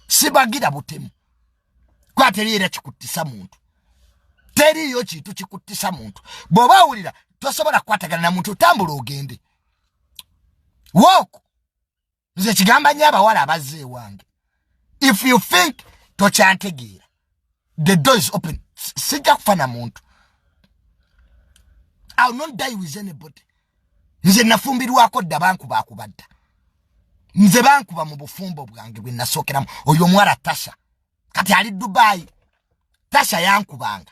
sibagira butemu kuba teri era kikuttisa muntu teriyo kintu kikuttisa muntu bw'oba awulira tosobola kukwatagana na muntu otambula ogende woku nze kigamba nyo abawala abazze ewange if you think tokyantegeera the door is open sijja kufa na muntu ill not die with anybody nze nafumbirwako dda bankubakuba dda nze bankuba mu bufumbo bwange bwe nasookeramu oyo omuwala tasha kati ali dubayi tasha yankubanga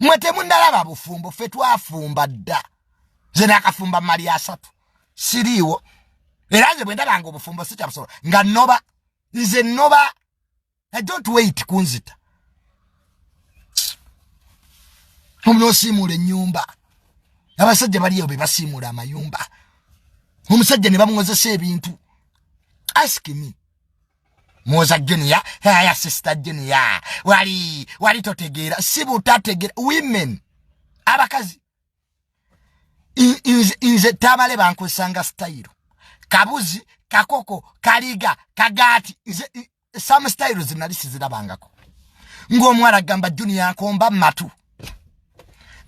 mwe temunalaba bufumbo fe twafumba dda nze nakafumba mali asatu siriiwo era nze bwendabanga obufumbo sikyabusobola nga noba nze noba i don't wait kunzita omuna osiimuula enyumba abasajja baliyo bebasiimuula amayumba omusajja ne bamuwozesa ebintu ask me muwoza junior haya sister junior wali wali totegeera si butategeera women abakazi nze tabale bankwesanga style kabuzi kakoko kaliga kagati nze some styles nali sizirabangako ng'omuwala agamba junior nkomba matu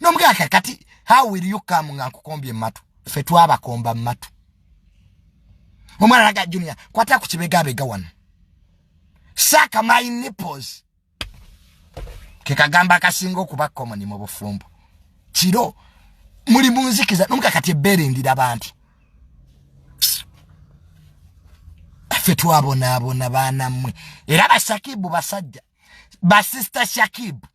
nomugaka kati how will you come nga nkukombye mumatu fe twabakomba mumatu omwana naga junior kwata ku kibegabega wano saka my nipples kekagamba akasinga okuba komoni mu bufumbo kiro muli munzikiza nomuka kati ebbeere ndira bantu affe twabonaabona baana mmwe era bashakibu basajja basista shakibu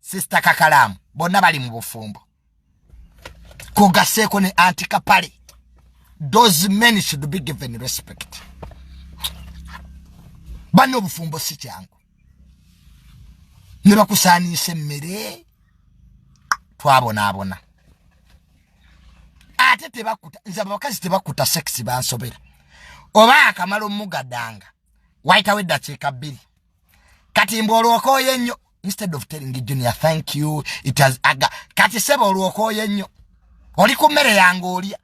sisita kakalaamu bonna bali mu bufumbo kogaseeko ne anti kapale those men should be given respect banna obufumbo si kyangu ne bakusaaniisa emmere twabonaabona ate tebakuta nze abakazi tebakuta sekisi bansobera oba akamala omugadanga wayitawo eddakiika bbiri kati mbu olwoka oyo ennyo instead of telling junior thank you it has aga kati sebo olwokoye nnyo oli ku mmere yange olya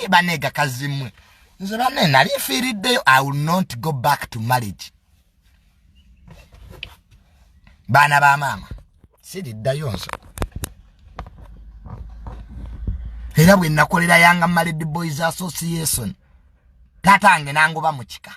baneega kazimwe nze bane nali nfiiriddeyo i will not go back to marriage baana ba maama siriddayo nso era bwe nakolera yanga married boys association taata nge nangoba mu kika